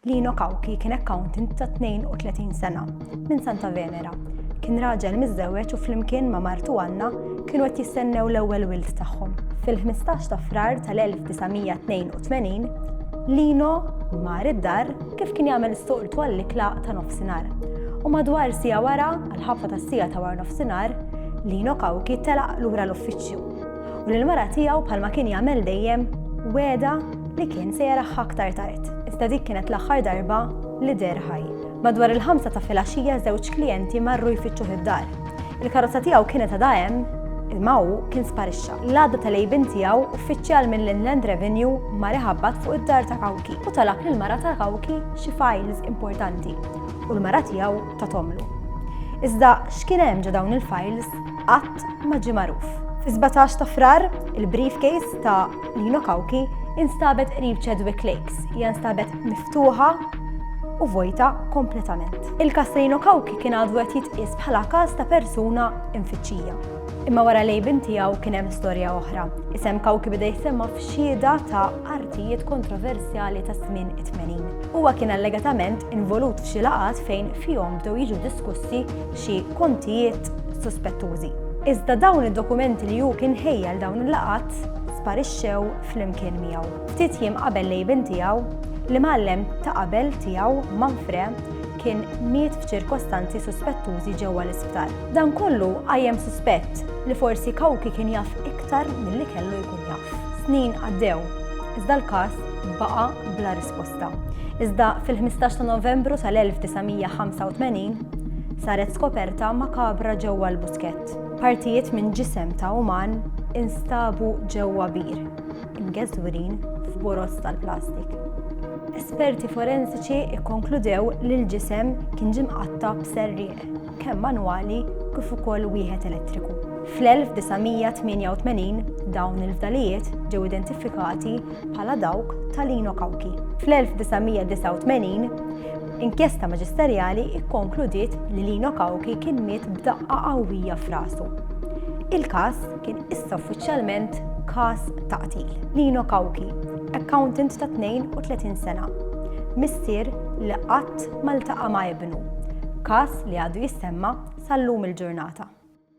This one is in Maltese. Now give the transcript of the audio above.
Lino Cauchi kien accountant ta' 32 sena, minn Santa Venera. Kien raġel miżżewweġ u flimkien ma' martu Anna kienu qed jistennew l-ewwel wild tagħhom. Fil-15 ta' Frar tal-1982, Lino mar id-dar kif kien jagħmel s-soltu għall-ikla ta' nofsinhar. U madwar siegħa wara, għall-ħabta tas-siegħa ta' warnofsinhar, Lino Cauchi telaq lura l-uffiċċju. u li l-mara tiegħu bħalma kien jagħmel dejjem wegħedha li kien se jaraha aktar tard. Iżda dik kienet l-aħħar darba li deher ħaj. Madwar il-ħamsa ta' filgħaxija żewġ klijenti marru jfittxuh id-dar. Il-karozza tiegħu kienet għadha hemm, imma hu kien sparixxa. L-għada tal-għejbien tiegħu, uffiċjal mill-Inland Revenue mar iħabbat fuq id-dar ta' Kawki u talab lill-mara ta' Kawki xi files importanti u l-mara tiegħu tathomlu. Iżda x'kien hemm ġo dawn il-files? qatt ma ġie magħruf. Fis-17 ta' Frar, il-briefcase ta' Lino Kawki instabet qrib Chadwick Lakes, hija nstabet miftuħa u vojta kompletament. Il-kas ta' Lino Kawki kien għadu qed jitqies bħala każ ta' persuna infittxija. Imma wara lejbin tiegħu kien hemm storja oħra. Isem Kawki beda jissemma f'xieda ta' artijiet kontroversjali ta' żmien it-80. Huwa kien allegatament involut f'xi laqat fejn fihom bdew jiġu diskussi xi kontijiet suspettużi. Iżda dawn id-dokumenti li hu kien ħejja għal dawn il-laqgħat sparixxew flimkien miegħu. Ftit jiem qabel l-għibien tiegħu, l-imgħallem ta' qabel tiegħu Manfre kien miet f'ċirkostanzi suspettużi ġewwa l-isptar. Dan kollu qajjem suspett li forsi Cauchi kien jaf iktar milli kellu jkun jaf. Snin għaddew, iżda l-każ baqa' bla Bosta. Iżda fil-15 ta' Novembru tal-1985 saret skoperta makabra ġewwa l-buskett. Partijiet minn ġisem ta' uman instabu ġewwa bir, imgeżwrin f'boroż tal-plastik. Esperti forensiċi kkonkludew li l-ġisem kien ġie mqatta' b'serrieq. kemm manwali kif ukoll wieħed elettriku. Fl-1988 dawn il-fdalijiet ġew identifikati bħala dawk ta' Lino Cauchi. Fl-1989, inkjesta maġisterjali kkonkludiet li Lino Cauchi kien miet b'daqqa qawwija f'rasu. Il-każ kien issa uffiċjalment każ ta' qtil. Lino Cauchi, accountant ta' 32 sena, missier li qatt ma ltaqa' ma' ibnu, każ li għadu jissemma' sal-lum il-ġurnata.